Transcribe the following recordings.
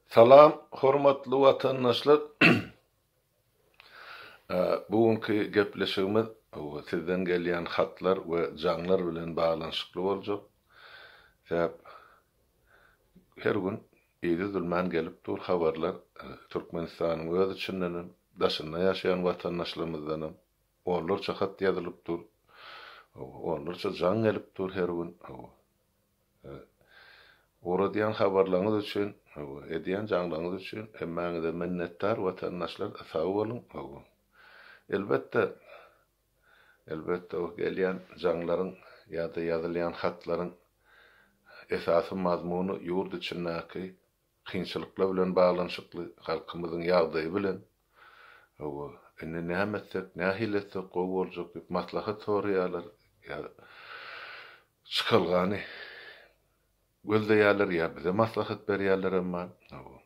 Salam hormatly watandaşlar Bu günki gepleşigimiz sizden gelýän hatlar we jaňlar bilen baglanyşykly boljak. Sebäp her gün yzydülmän gelip dur habarlar Türkmenistanyň öz içinden hem, daşynda ýaşaýan watandaşlarymyzdan hem onlarça hat ýazylyp dur. Onlarça jaň gelip dur her gün. Ugradýan habarlaryňyz üçin, edýän jaňlaryňyz üçin hemmäňize minnetdar watandaşlar sag boluň. Elbetde, elbetde o gelýän jaňlaryň ýa-da ýazylýan hatlaryň esasy mazmuny ýurt içindäki Kynçylyklar bilen baglanyşykly halkymyzyň ýagdaýy bilen, hawa, indi näme etsek, nähili etsek gowy boljak diýip maslahat soraýarlar, ýa çykalgany gözleýärler, ýa bize maslahat berýärler emma, hawa.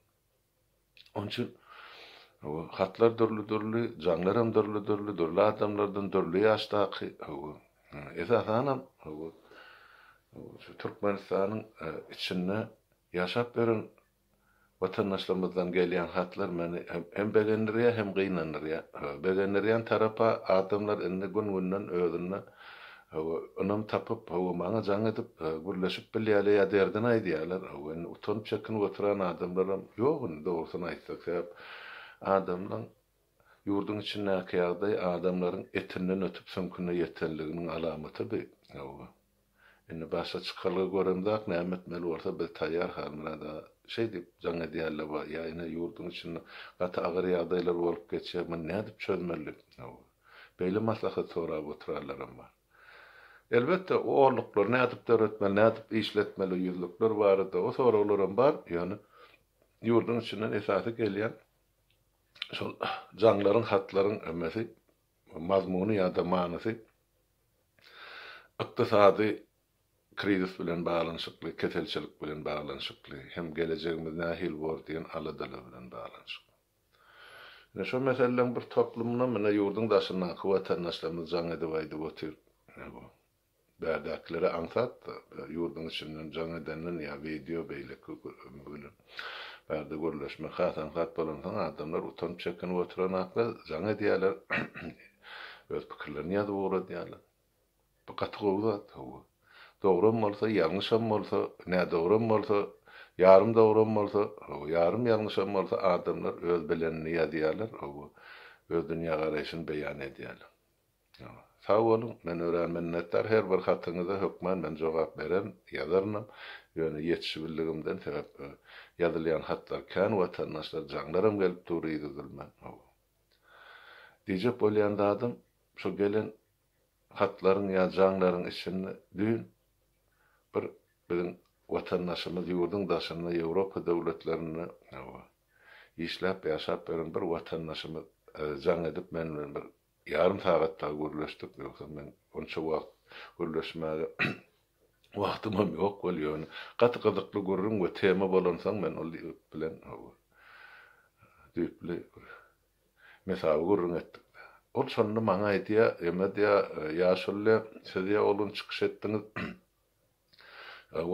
Onuň üçin, hawa, hatlar dürli-dürli, jaňlaram dürli-dürli, dürli adamlardan, dürli ýaşdaky, hawa, esasanam, hawa, şu Türkmenistanyň içinde, Ýaşap ýören watandaşlarymyzdan gelýän hatlar meni hem begendirýär, hem gynandyrýar. Begendirýän tarapa adamlar indi gün-günden özünde ynam tapyp, maňa jaň edip, gürleşip bilýärler ýa derdini aýdýarlar. Indi utanyp, çekinip oturan adamlaram ýok indi dogrusyny aýtsak. Sebäp adamlaryň ýurduň içindäki ýagdaý adamlaryň etinden ötüp süňküne ýetenliginiň alamatydy. Indi başga çykalga göremzok, näme etmeli bolsa biz taýýar Halmyrat aga şeý diýip jaň edýärler wah ýa ine ýurduň içinde gaty agyr ýagdaýlar bolup geçýär muny nädip çözmeli hawa beýle maslahat sorap oturanlaram bar elbetde o orluklary nädip döretmeli nädip işletmeli ýüzlükler barada o soraglaram bar ýöne ýurduň içinden esasy gelýän şol jaňlaryň hatlaryň ömesi mazmuny ýa-da manysy ykdysady krizis bilen baglanyşykly, keselçilik bilen baglanyşykly hem gelejegimiz nähili bor diýen aladalar bilen baglanyşykly. Ine, şo meseleleriň bir toplumynam ine ýurduň daşyndaky watandaşlarymyz jaň edip aýdyp otyr. Bärdakileri aňsat-da, ýurduň içinden jaň edenden ýa wideo beýleki bilen bärde gürleşmek has aňsat bolansoň adamlar utanyp çekinip oturanaklar, jaň edýäler, öz pikirlerini ýazyp ugradýalar. Bu gaty gowy zat, hawa. Dogrum bolsa, ýalňyşam bolsa, nädogrum bolsa, ýarym dogrum bolsa, hawa, ýarym ýalňyşam bolsa adamlar öz bilenini ýazýalar, hawa, öz dünýägaraýşyny beýan edýäler. Sag boluň, men örän minnetdar her bir hatyňyza hökman men jogap beren, ýazarynam, ýöne ýetişibildigimden sebäp ýazylýan hatlar kän watandaşlar jaňlaram gelip dur yzydylman hawa. Diýjek bolýan zadym şo gelen hatlaryň ýa jaňlaryň içinde düýn bir biziň watandaşymyz ýurduň daşynda ýewropa döwletlerinde hawa işläp ýaşap ýören bir watandaşymyz jaň edip men bilen bir Ýarym sagat dagy gürleşdik, ýogsam men onça wagt gürleşmäge wagtymam ýok weli, ýöne gaty gyzykly gürrüň we tema bolansoň men ol ýigit bilen howa düýpli bir mesawy gürrüň etdik. Ol şonda maňa aýdýar, Emad ýa, ýaşuly, siz ýa ol gün çykyş etdiňiz,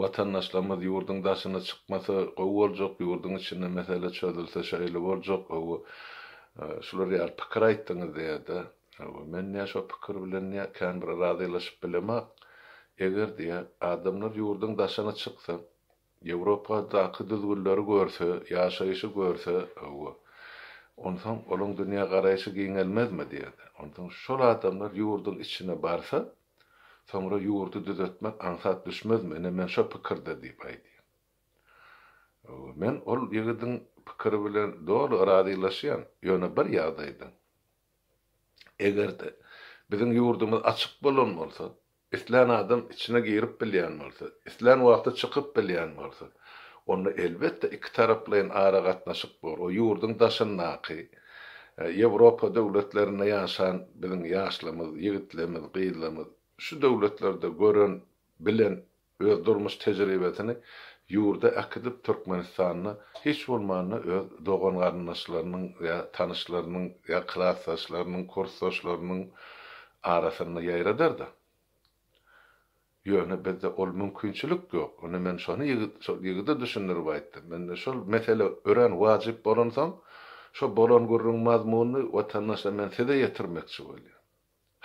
Watandaşlarymyz ýurduň daşyna çykmasa gowy boljak, ýurduň içinde mesele çözülse şeýle boljak, hawa, şular ýaly pikir aýtdyňyz diýýärdi. Hawa, men nä şo pikir bilen nä känbir razylaşyp bilemok. Eger diýýär, adamlar ýurduň daşyna çyksa, Ýewropadaky düzgünleri görse, ýaşaýşy görse, hawa, onsoň olaň dünýägaraýşy giňelmezmi diýerdi. Onsoň şol adamlar ýurduň içine barsa, soňra ýurdy düzetmek aňsat düşmezmi, ine men şo pikirde diýip aýdýan. Hawa, men ol ýigidiň pikiri bilen doly razylaşýan, ýöne bir ýagdaýda. Eger-de biziň ýurdumyz açyk bolan bolsa, Islän adam içine girip bilýän bolsa, islän wagty çykyp bilýän bolsa, onda elbetde ikitaraplaýyn aragatnaşyk bor. O ýurduň daşyndaky, Ýewropa döwletlerinde ýaşan biziň ýaşlarymyz, ýigitlerimiz, gyzlarymyz şu döwletlerde gören, bilen, öz durmuş tejribesini ýurda äkidip, Türkmenistanda hiç bolmanda öz dogan-garyndaşlarynyň ýa tanyşlarynyň ýa klasdaşlarynyň, kursdaşlarynyň arasynda ýaýradar-da. Ýöne bizde ol mümkinçilik ýok. Ine men şony ýigit, şol ýigide düşündirip aýtdym. Indi şol mesele örän wajyp bolansoň, şo bolan gürrüň mazmunyny watandaşlar men size ýetirmekçi bolýan.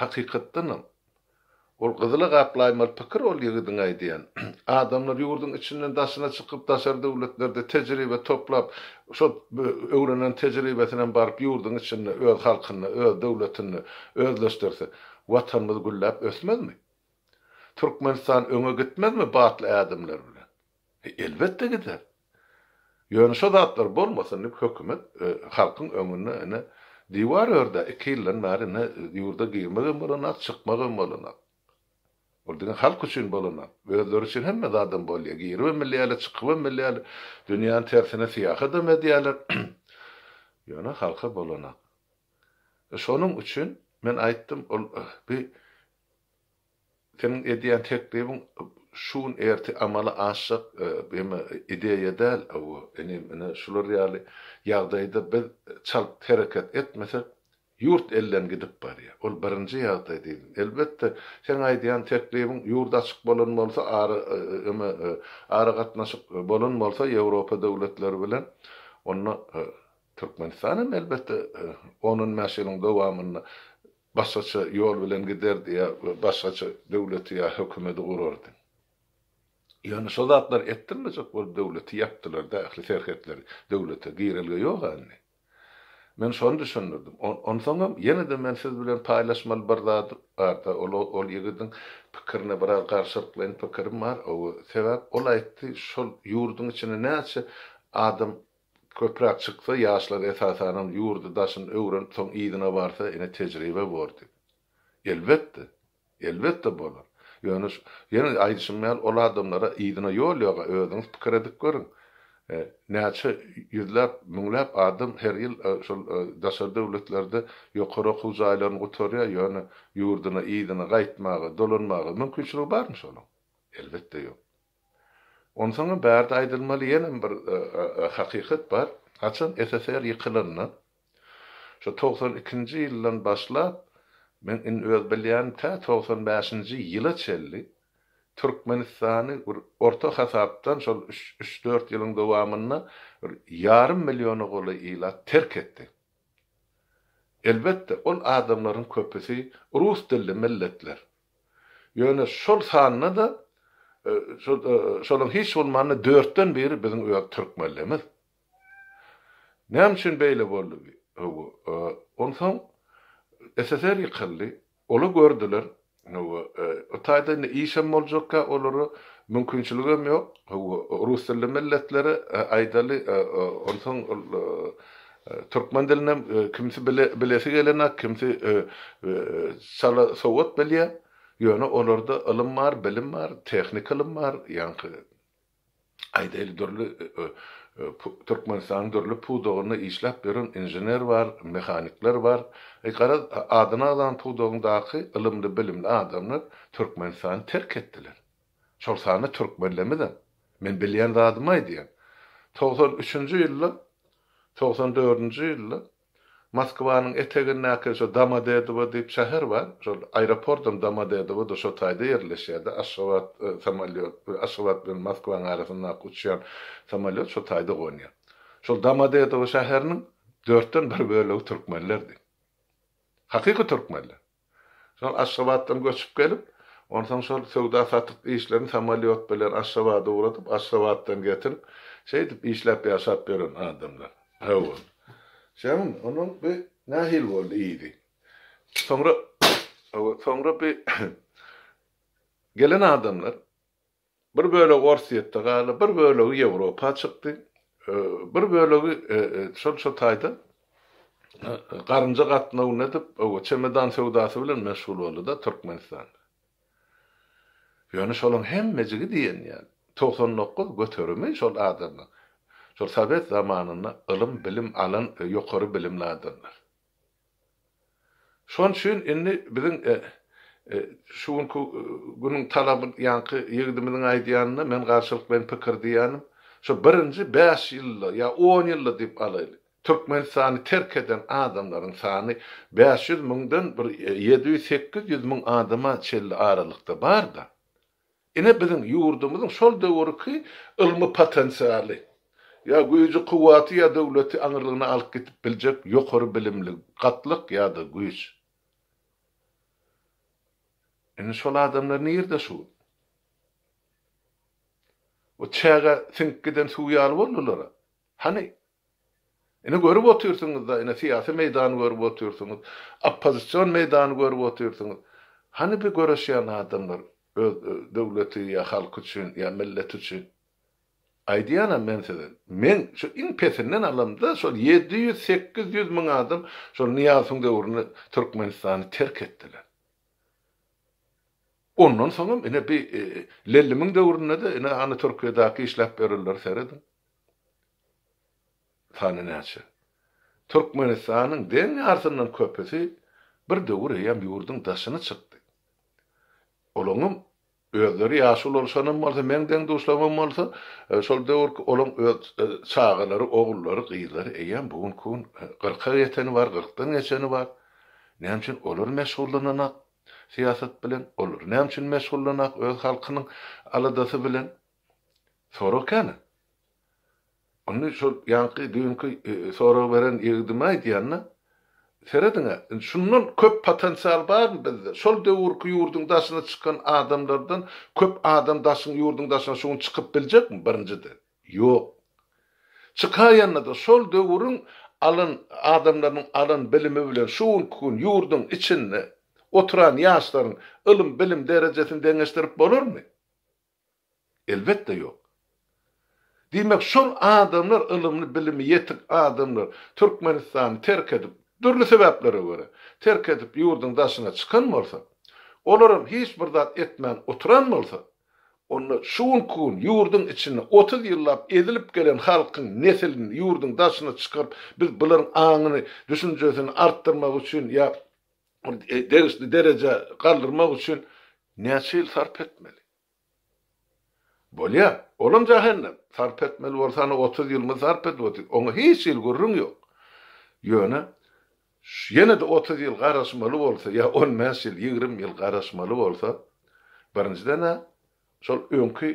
Hakykatdanam, ol gyzyla gaplaýmaly pikir ol ýigidiň aýdýan. Adamlar ýurduň içinden daşyna çykyp, daşary döwletlerde tejribe toplap, Şol öwrenen tejribesinem baryp ýurduň içinde öz halkynda, öz döwletinde özleşdirse, Watanymyz gülläp ösmezmi? Türkmenistan öňe gitmezmi batly ädimler bilen? Elbetde gider. Ýöne şo zatlar bolmasyn diýip hökümet halkyň öňünde ine diwar ördi. Iki ýyldan bäri ine ýurda girmegem bolanok, çykmagam bolanok. Ol diňe halk üçin bolanok. Özleri üçin hemme zadam bolýar. Giribem bilýärler, çykybam bilýärler. Dünýäniň tersine syýahatam edýärler. Ýöne halka bolanok. Şonuň üçin men aýtdym, ol bi seniň edýän teklibiň şu gün ertir amala aşjak ýeme ideýa däl. Hawa, inim, ine şular ýaly ýagdaýda biz çalt hereket etmesek, Ýurt elden gidip barýar. Ol birinji ýagdaý diýdim. Elbetde, seň aýdýan teklibiň ýurt açyk bolan bolsa, ara öme aragatnaşyk bolan bolsa Ýewropa döwletleri bilen, onda Türkmenistan hem elbetde on-on bäş ýylyň dowamynda başgaça ýol bilen giderdi ýa başgaça döwleti ýa hökümeti gurardy. Ýöne şo zatlar etdirilmejek bolup döwleti ýapdylar-da, ähli serhetleri. Döwlete girelge ýoga indi. Men şony düşündirdim. Onsoňam, ýene-de men siz bilen paýlaşmaly bir zat bar-da, ol, ol ýigidiň pikirine biraz garşylyklaýyn pikirim bar, hawa, sebäp ol aýtdy, şol ýurduň içine näçe adam köpräk çyksa, ýaşlar esasanam ýurdy, daşyny öwrenip, soň yzyna barsa, ine, tejribe bor diýip. Elbetde. Elbetde bolar. Ýöne şu, ýene aýdyşym ýaly, ol adamlara yzyna ýol ýog-a, özüňiz pikir edip görüň. Näçe ýüzläp, müňläp adam her ýyl şol daşary döwletlerde ýokary okuw jaýlaryny gutarýar, ýöne ýurduna yzyna gaýtmaga, dolanmaga mümkinçiligi barmy şonuň? Elbetde ýok. Onsoňam bärde aýdylmaly ýenem bir hakykat bar. Haçan SSR ýykylanda, Şu togsan ikinji ýyldan başlap, men indi öz bilýänim tä togsan bäşinji ýyla çenli Türkmenistany bir orta hasapdan şol üç-dört ýylyň dowamynda bir ýarym milliona golaý ilat terk etdi. Elbetde, ol adamlaryň köpüsi rus dilli milletler. Ýöne şol sanda-da şolaryň hiç bolmanda dörtden biri biziň öz türkmenlerimiz. Näme üçin beýle boldy? Hawa, onsoň SSR ýykyldy. Ola gördüler. Hawa, o taýda indi işem boljakka olara mümkinçiligem ýok. Hawa, rus dilli milletlere aýdaly, onsoň ol türkmen dilinem kimsi bilesi gelenak, kimsi çala sowat bilýär. Ýöne olarda ylym bar, bilim bar, tehnika ylym bar. Ýaňky Aýdaýly, dürli Türkmenistanyň dürli pudagynda işläp ýören inžener bar, mehanikler bar. Garaz, adyny agzalan pudagyndaky ylymly-bilimli adamlar Türkmenistany terk etdiler. Şol sanda türkmenlemizem. Men bilýän zadymy aýdýan. Togsan üçünji ýylda, togsan dördünji ýylda Moskwanyň etegindäki şo Domodedowo diýip şäher bar. Şol aeropordam Domodedowoda şo taýda ýerleşýärdi. Aşgabat samolýot, Aşgabat bilen Moskwanyň arasyndaky uçýan samolýot şo taýda gonýar. Şol Domodedowo şäheriniň dörtden bir bölegi türkmenlerdi. Hakyky türkmenler. Soň Aşgabatdan göçüp gelip, onsoň şol söwda-satyk işlerini samolýot bilen Aşgabada ugradyp, Aşgabatdan getirip, şeýdip işläp ýaşap ýören adamlar. Hawa. Şeýdem, onuň bi nähili boldy yzy. Soňra, hawa, soňra bi gelen adamlar. Bir bölegi Orsýetde galdy, bir bölegi Ýewropa çykdy, bir bölegi şol şu taýda garynja gatnaw nädip, çemedan söwdasy bilen meşgul boldy-da Türkmenistanda. Ýöne şolaryň hemmejigi diýen ýaly, togsan dokuz göterimi şol adamlaryň, şol sowet zamanynda ylym-bilim alan ýokary bilimli adamlar. Şonuň üçin indi biziň şu günki günüň talaby ýaňky ýigidimiziň aýdýanyna men garşylykleýin pikir diýýänim, şu birinji bäş ýylda ýa on ýylda diýip alaýly, Türkmenistany terk eden adamlaryň sany bäş ýüz müňden bir ýedi ýüz-sekiz ýüz müň adama çenli aralykda bar-da. Ine biziň ýurdumyzyň şol döwürki ylmy potensialy, ýa güýji-kuwwaty ýa döwleti aňyrlygyna alyp gidip biljek ýokary bilimli gatlyk ýa-da güýç. Indi şol adamlar nirde şu gün? Bu çägä siňip giden suw ýaly boldular-a. Hany Ine görüp otyrsyňyzda, ine syýasy meýdany görüp otyrsyňyz, oppozision meýdany görüp otyrsyňyz. Hany bi göreşýän adamlar öz döwleti ýa halky üçin ýa milleti üçin? Aýdýanam men size, men şu iň pesinden alamda şol ýedi ýüz, sekiz ýüz müň adam şol Nyýazowyň döwründe Türkmenistany terk etdiler. Ondan soňam ine bi Lellimiň döwründe-de ine hany Türkiýedäki işläp ýörenleri serediň. sany näçe? Türkmenistanyň deň ýarysyndan köpüsi bir döwür eýýäm ýurduň daşyna çykdy. Olaňam özleri ýaşuly bolşanam bolsa, meň deň-duşlarymam bolsa, şol döwürki olaň öz çagalary, ogullary, gyzlary eýýäm bu günki gün kyrka ýeteni bar, kyrkdan geçeni bar. Näme üçin olar meşgullananak syýasat bilen? Olar näme üçin meşgullananak öz halkynyň aladasy bilen? Sorag kän. Indi şol ýaňky düýnki sorag beren ýigidime aýdýan-da, serediň-ä, indi şundan köp potensial barmy bizde? Şol döwürki ýurduň daşyna çykan adamlardan köp adam daşyň ýurduň daşyna şu gün çykyp biljekmi, birinjiden? Ýok. Çykaýanda-da şol döwrüň alan adamlarynyň alan bilimi bilen şu günki gün ýurduň içinde oturan ýaşlaryň ylym-bilim derejesini deňeşdirip bolarmy? Elbetde ýok. Diýmek şol adamlar ylymly bilimi ýetik adamlar Türkmenistany terk edip dürli sebäplere görä terk edip ýurdyň daşyna çykan bolsa, olaram hiç bir zat etmän oturan bolsa, onda şu günki gün ýurdyň içinde otuz ýyllap ezilip gelen halkyň nesilini ýurdyň daşyna çykaryp biz bularyň aňyny düşünjesini artdyrmak üçin ýa ony degişli derejä galdyrmak üçin näçe ýyl sarp etmeli? Bolýar, olam jähennem. Sarp etmeli bolsaň, otuz ýylymy sarp et, otuz, oňa hiç hili gürrüň ýok. Ýöne ýene-de otuz ýyl garaşmaly bolsa ýa on bäş ýyl, ýigrimi ýyl garaşmaly bolsa, birinjiden-ä şol öňki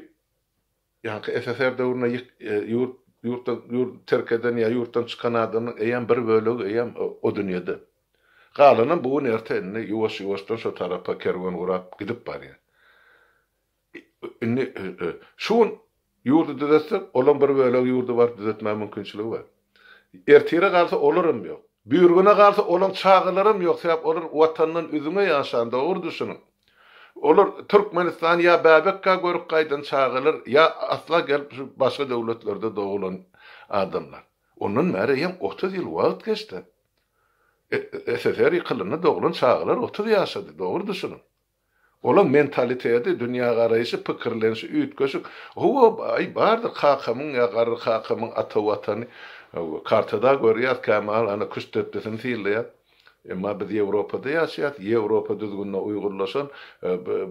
Ýaňky SSR döwründe ýyk ýurt ýurtdan ýurt terk eden ýa ýurtdan çykan adamyň eýýäm bir bölegi eýýäm o dünýede. Galanam bu gün erte indi ýuwaş ýuwaşdan şo tarapa kerwen gurap gidip barýar. Indi şu gün ýurdy düzetsek olam bir bölegi ýurdy bar düzetmä mümkinçiligi bar. Ertire galsa olaram ýok. Büýrgene galsa olaň çagalaram ýok sebäp olar watandan üzňe ýaşan dogry düşüniň. Olar Türkmenistany ýa bäbekkä görüp gaýdan çagalar ýa asla gelip şu başga döwletlerde dogulan adamlar. Ondan bäri hem otuz ýyl wagt geçdi. SSR ýykylanda dogulan çagalar otuz ýaşady dogry düşüniň. Olaň mentaliteti, dünýägaraýşy, pikirlenişi üýtgeşik. Hawa, baý, bardyr kakamyň ýa garry kakamyň ata Watany. Kartada görýäs, kämahal ana küştdepdesini synlaýas. Emma biz Ýewropada ýaşaýas, Ýewropa düzgünine uýgurlaşan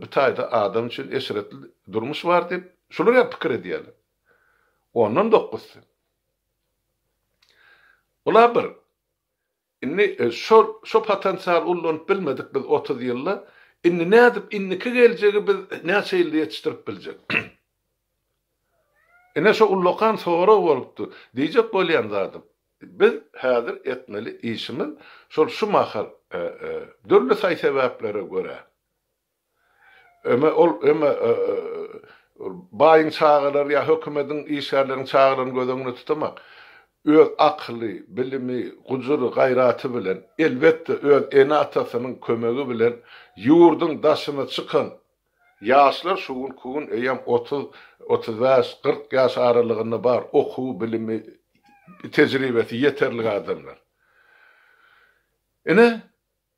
bi taýda adam üçin eşretli durmuş bar diýip, şular ýaly pikir edýärler. Ondan dokuzsy. Ol-a bir. Indi şol şo potensial ullanyp bilmedik biz otuz ýylda, indi nädip indiki geljegi biz näçe ýylda ýetişdirip biljek? Ine şo ullakan sorag bolupdy. Diýjek bolýan zadym, biz häzir etmeli işimiz şol şu mahal dürli saý-sebäplere görä, Öme ol öme baýyň çagalary ýa hökümediň işgärleriniň çagalaryny göz öňünde tutamak, öz akyly, bilimi, gujury, gaýraty bilen, elbetde öz ene-atasynyň kömegi bilen ýurduň daşyna çykan ýaşlar şu günki gün eýýäm otuz, otuz bäş, kyrk ýaş aralygynda bar, okuwy, bilimi, tejribesi ýeterlik adamlar. Ine,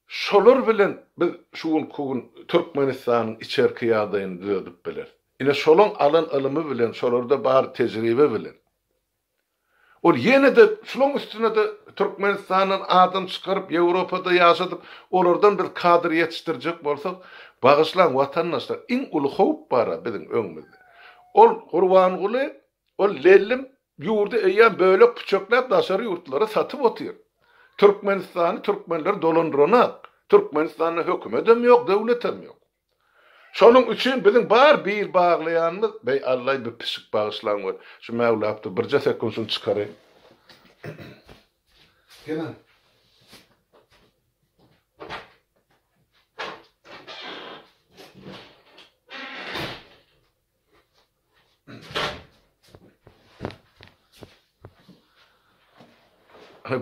Şolar bilen biz şu günki gün Türkmenistanyň içerki ýagdaýyny düzedip bileris. Ine şolaň alan ylymy bilen, şolarda bar tejribe bilen. Ol ýene-de şolaň üstüne-de Türkmenistandan adam çykaryp, Ýewropada ýaşadyp, olardan biz kadr ýetişdirjek bolsak, bagyşlaň watandaşlar, iň uly howp bar-a biziň öňümizde. Ol Gurbanguly, ol Lellim, Ýurdy eýýäm bölek puçakläp daşary ýurtlara satyp otyr. Türkmenistany türkmenler dolandyranok. Türkmenistanda hökümedem ýok, döwletem ýok. Şonuň üçin biziň bar bil baglaýanymyz, beý Allaý bir pişik bagyşlaň we şu mäwlapdy birje sekund şuny çykaraýyn. Gelen.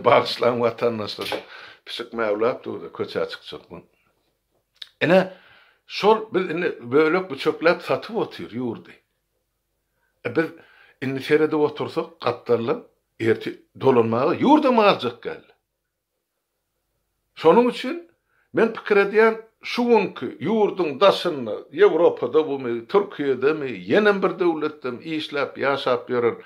Bagyşlaň watandaşlar. Pişik mäwläp durdy, köçä çykjakmyň. Ine, şol biz indi bölek büçekläp satyp otyr ýurdy. E biz indi seredip otursak, gapdaldan erti dolanmaga ýurdam aljak geldi. Şonuň üçin men pikir edýän, şu günki ýurduň daşynda, Ýewropada bumy, Türkiýedemi, ýenem bir döwletdemi işläp, ýaşap ýören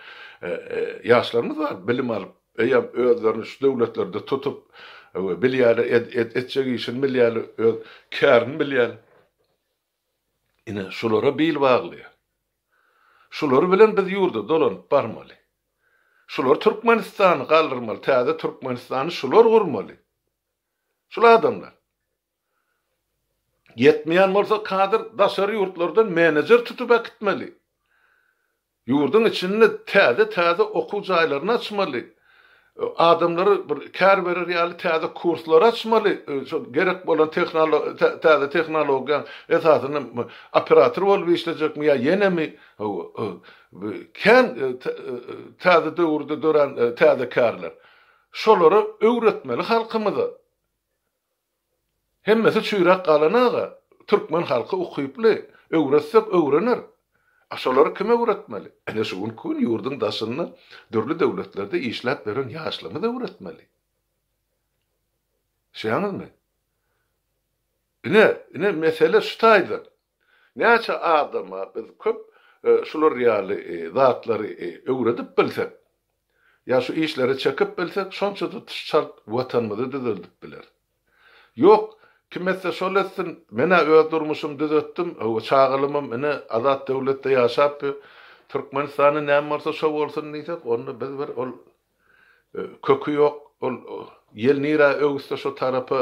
ýaşlarymyz bar, bilim alyp, eýýäm özlerini şu döwletlerde tutup bilýärler, etjek işini bilýärler, öz kärini bilýärler. Ine, şulara bil baglaýar. Şular bilen biz ýurda dolanyp barmaly. Şular Türkmenistany galdyrmaly, täze Türkmenistany şular gurmaly. Şul adamlar. Ýetmeýän bolsa kadr daşary ýurtlardan menejer tutup äkitmeli. Ýurduň içinde täze-täze okuw jaýlaryny açmaly. adamlara bir kär berer ýaly täze kurslary açmaly, şol gerek bolan täze tehnologiýaň esasynda operator bolup işlejekmi ýa ýenemi, hawa, kän täze döwürde dörän täze kärler. Şolary öwretmeli halkymyza. Hemmesi çüýräp galana-da, türkmen halky ukyply, öwretsek öwrener. A şolary kim öwretmeli? Ine şu günki gün ýurduň daşynda dürli döwletlerde işläp ýören ýaşlarymyz öwretmeli. Düşýäňizmi? Ine, ine mesele şu taýdan. Näçe adama biz köp şular ýaly zatlary öwredip bilsek, ýa şu işlere çekip bilsek, şonça tutuş çalt Watanymyzy düzeldip bileris. Ýok, kim etse şol etsin, men-ä öz durmuşymy düzetdim, hawa, çagalamam ine azat döwletde ýaşap ýör, Türkmenistanda näme bolsa şo bolsun diýsek, onda biz bir ol Köki ýok ol ýel nirä öwüsse şo tarapa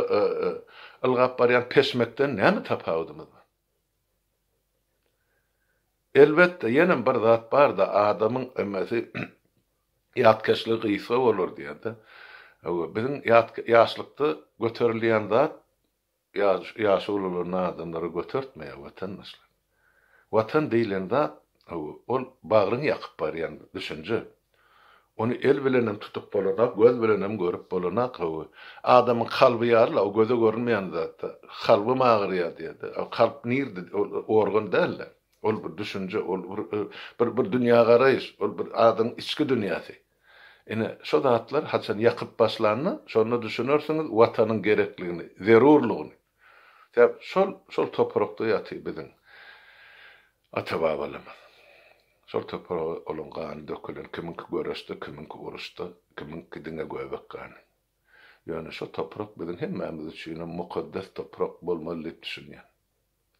ylgap barýan peşmekden näme tapawudymyz bar? Elbetde ýenem bir zat barda adamyň emesi ýatkeşligi gysga bolar diýerde biziň ýatlykda göterilýän zat Ýaşy ulalary nadanlary götertmeýär watandaşlar. Watan diýlen zat, hawa, ol bagryňy ýakyp barýan düşünje. Ony el bilenem tutup bolanak, göz bilenem görüp bolanak, hawa. Adamyň kalby ýaly-la, o göze görünmeýän zat-da. Kalbym agyrýar diýýär-de. A kalp nirde, ol organ däl-de. Ol bir düşünje, ol bir dünýägaraýyş, ol bir adamyň içki dünýäsi. Ine, şo zatlar haçan ýakyp başlanda, şonda düşünersiňiz Watanyň gerekligini, zerurlygyny. Sebäp şol, şol toprakda ýatyr biziň ata-babalarymyz. Şol topraga olaň gany dökülen, kimiňki göreşde, kimiňki uruşda, kimiňki diňe göbek gany. Ýöne şo toprak biziň hemmämiz üçinem mukaddes toprak bolmaly diýip düşünýän.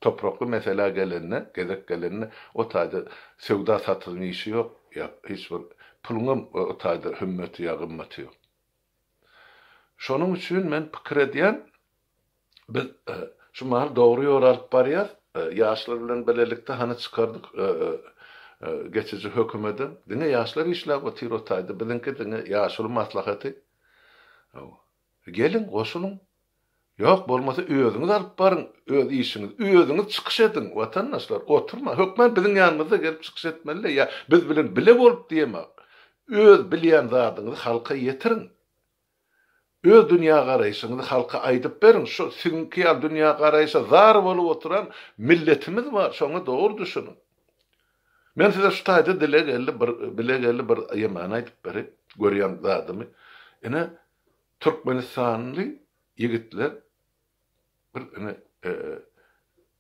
Toprakly meselä gelende, gezek gelende, o taýda söwda-satygyň işi ýok, ýa hiç bir puluňam o taýda hümmeti ýa gymmaty ýok. Şonuň üçin men pikir edýän, biz şu mahaly dogry ýoly alyp barýas, ýaşlar bilen bilelikde hany çykardyk geçiji hökümedem, diňe ýaşlar işläp otyr o taýda, biziňki diňe ýaşuly maslahaty. Geliň, goşulyň. Ýok, bolmasa özüňiz alyp baryň, öz işiňiz, özüňiz çykyş ediň, watandaşlar, oturma, hökman biziň ýanymyzda gelip çykyş etmeli-le ýa biz bilen bile bolup diýemä. Öz bilýän zadyňyzy halka ýetiriň. Öz dünýägaraýşyňyzy halka aýdyp beriň, şu siziňki ýaly dünýägaraýşa zar bolup oturan milletimiz bar, şoňa dogry düşüniň. Men size şu taýda dile geldi bir, bile geldi bir ýemany aýdyp beri, görýän zadymy. Ine, türkmenistanly ýigitler bir ine,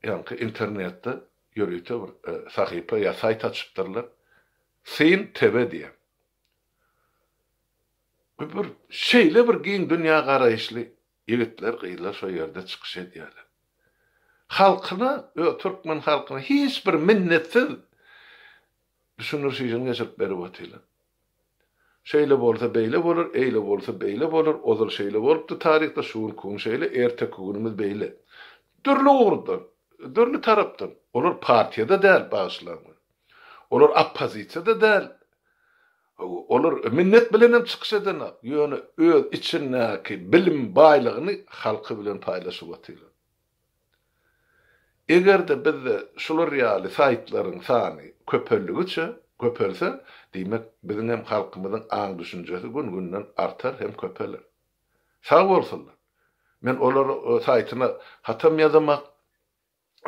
ýaňky internetde ýörite bir sahypa ýa saýt açypdyrlar. Syn TV diýen. Bu bir şeýle bir giň dünýägaraýyşly Ýigitler gyzlar şo ýerde çykyş edýärler. Halkyna öz türkmen halkyna hiç bir minnetsiz düşündiriş işini geçirip berip otyrlar. Şeýle bolsa beýle bolar, eýle bolsa beýle bolar, ozal şeýle bolupdy taryhda, şu günki gün şeýle, erteki günümiz beýle. Dürli ugurdan, dürli tarapdan. Olar partiýada däl, bagyşlaň meni. Olar oppozisiýada däl. Olar minnet bilenem çykyş edenok, ýöne öz içindäki bilim baýlygyny halky bilen paýlaşyp otyrlar. Eger-de bizde şular ýaly saýtlaryň sany köpeldigiçe köpelse, diýmek, biziň hem halkymyzyň aň-düşünjesi gün-günden artar hem köpeler. Sag bolsunlar. Men olara saýtyna hatam ýazamak.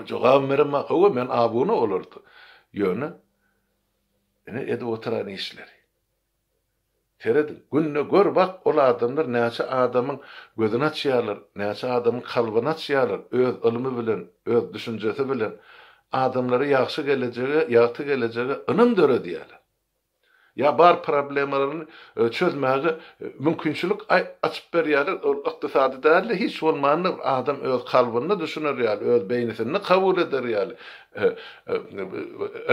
Jogabym beremok, hawa, men abuna olarda. Ýöne, ine, edip oturan işleri. Serediň, günde gör bak, ol adamlar näçe adamyň gözüni açýarlar, näçe adamyň kalbyny açýarlar, öz ylmy bilen, öz düşünjesi bilen adamlara ýagşy gelejege, ýagty gelejege ynam döredýärler. ýa bar problemalaryny çözmäge mümkinçilik açyp berýärler, ol ykdysady däl-de, hiç bolmanda bir adam öz kalbynda düşüner ýaly, öz beýnisinde kabul eder ýaly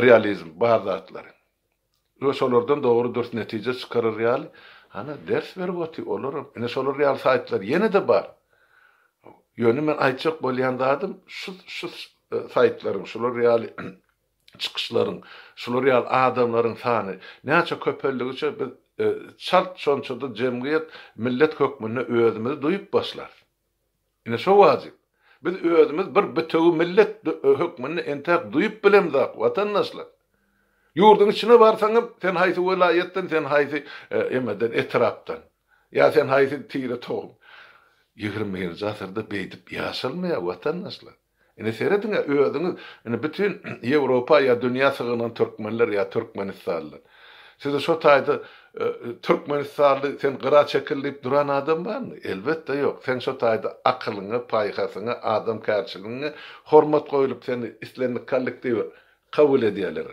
realizm, bar zatlary we şolardan dogry-dürs netije çykarar ýaly, hany, ders berip otyr, olaram, ine, şolar ýaly saýtlar ýene-de bar. Ýöne men aýtjak bolýan zadym, şu saýtlaryň, şular ýaly, çykyşlaryň, şular ýaly adamlaryň sany näçe köpeldigiçe biz çalt şonça-da jemgyýet, millet hökmünde özümizi duýup başlarys. Ine şo wajyp. Biz özümiz bir bitewi millet hökmünde entäk duýup bilemzok, watandaşlar. Ýurduň içine barsaň hem sen haýsy welaýatdan, sen haýsy emeden, etrapdan. Ýa sen haýsy tire-tohum. Ýigrimi birinji asyrda beýdip ýaşalmaýar, watandaşlar. Indi serediň-ä özüňiz, indi bütin Ýewropa ýa dünýä sygynan türkmenler ýa türkmenistanlylar. Siziň şo taýda türkmenistanly sen gyra çekil diýip duran adam barmy? Elbetde ýok. Seň şo taýda akylyňa, paýhasyňa, adamkärçiligiňe hormat goýlup seni islendik kollektiwe kabul edýärler.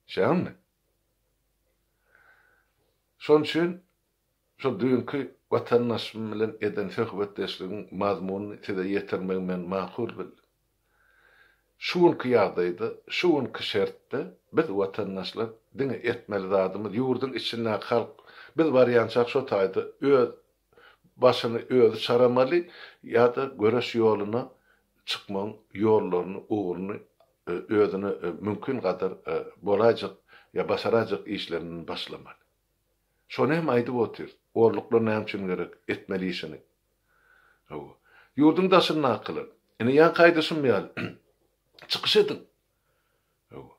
Şägindmi? Şonuň üçin Şol düýnki watandaşym bilen eden söhbetdeşligiň mazmunyny size ýetirmegi men makul bildim. Şu günki ýagdaýda, şu günki şertde biz watandaşlar diňe etmeli zadymyz ýurduň içindäki halk biz barýançak şo taýda öz başyny özi çaramaly ýa-da göreş ýoluna çykmagyň ýollaryny, ugruny özüne mümkin gadar bolaýjak ýa başaraýjak işlerinden başlamaly. Şony hem aýdyp otyr. Orluklar näme üçin gerek? Etmeli işini. Hawa. Ýurduň daşyndakylar. Ine ýaňky aýdyşym ýaly. Çykyş ediň. Hawa.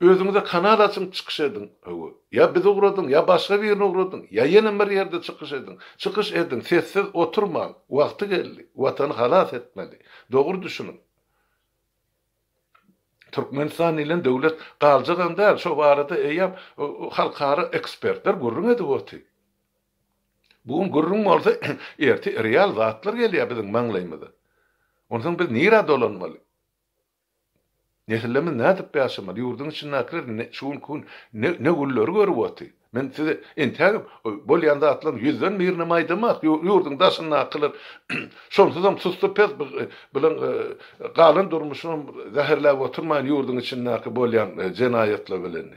Özüňize kanal açyň, çykyş ediň. Hawa. Ýa bizi ugradyň, ýa başga birini ugradyň, ýa ýene bir ýerde çykyş ediň. Çykyş ediň, sessiz oturmaň. Wagty geldi. Watany halas etmeli. Dogry düşüniň. Türkmenistan diýlen döwlet galjagam däl, şo barada eýýäm halkara ekspertler gürrüň edip otyr. Bu gün gürrüň bolsa, ertir real zatlar gelýär biziň maňlaýymyza. Onsoň biz nirä dolanmaly? Nesillerimiz nädip ýaşamaly? Ýurduň içindäkiler şu günki gün ne gülleri görüp otyr? Men size entägem bolýan zatlaryň ýüzden birinem aýdamak, ýurduň daşyndakylar şonsuzam sussy pes bilen galan durmuşynam zäherläp oturmaýyn ýurduň içindäki bolýan jenaýatlar bilen.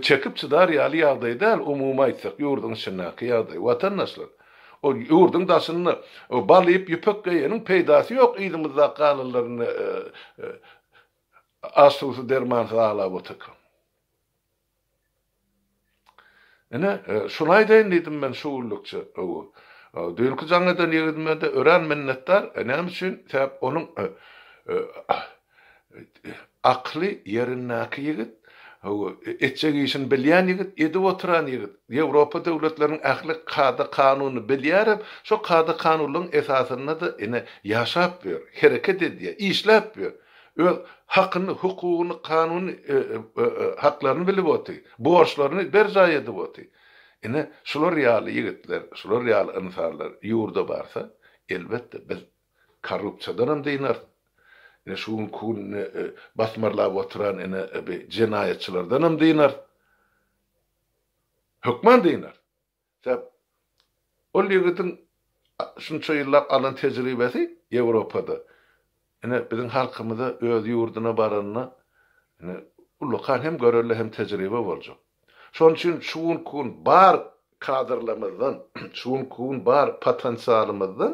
Çekip çydar ýaly ýagdaý däl umumy aýtsak ýurduň içindäki ýagdaý watandaşlar. Ol ýurduň daşynda bal iýip ýüpek geýeniň peýdasy ýok yzymyzdaky galanlarynda aç suwsuz dermansyz aglap otyrka. Ine, şuny aýdaýyn diýdim men şu günlükçe. Hawa. Düýnki jaň eden ýigidime-de örän minnetdar. Näme üçin? Sebäp onuň akly ýerindäki ýigit, hawa, etjek işini bilýän ýigit, edip oturan ýigit. Ýewropa döwletleriniň ähli kada-kanunyny bilýär hem şo kada-kanunlaryň esasynda-da ine, ýaşap ýör, hereket edýär, işläp ýör. Öz hakyny, hukugyny, kanuny haklaryny bilip oty, borçlaryny berjaý edip oty. Ine, şular ýaly ýigitler, şular ýaly ynsanlar ýurda barsa, elbetde, biz korrupsiýadanam dynaris. Ine, şu günki günde basmarlap oturan ine bi jenaýatçylardanam dynaris. Hökman dynaris. Sebäp ol ýigitiň şunça ýyllap alan tejribesi Ýewropada. Ine, biziň halkymyza öz ýurduna baranda, ine, ullakan hem görelde hem tejribe boljak. Şonuň üçin şu günki gün bar kadrlarymyzdan, şu günki gün bar potensialymyzdan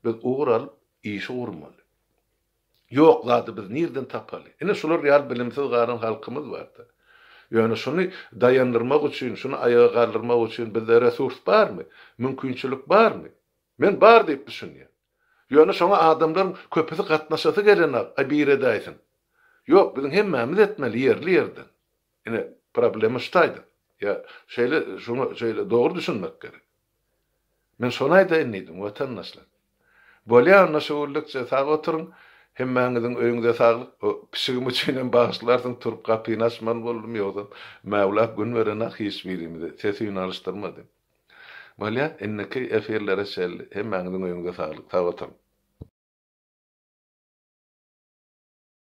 biz ugur alyp işi gurmaly. Ýok zady biz nirden tapaly? Ine şular ýaly bilimsiz galan halkymyz barda. Ýöne şuny daýandyrmak üçin, şuny aýaga galdyrmak üçin bizde resurs barmy? Mümkinçilik barmy? Men bar diýip düşünýän. Ýöne şoňa adamlaryň köpüsi gatnaşasy gelenok, aý biredäýsin. Ýok, biziň hemmämiz etmeli ýerli ýerden. Ine, problema şu taýda. Ýa, şeýle, şoňa şeýle dogry düşünmek gerek. Men şony aýdaýyn diýdim, watandaşlar. Bolýa onda şüwürlikçe, sag oturyň, hemmäňiziň öýüňize saglyk. O pişigim üçin hem bagyşlarsyň, turup gapyny açman boldum, ýogsam, Mäwla gün beren-ak hiç birimize, ses-üýn alyşdyrmady. Bolýa, indiki efirlere çenli, hemmäňiziň öýüňize saglyk, sag oturyň.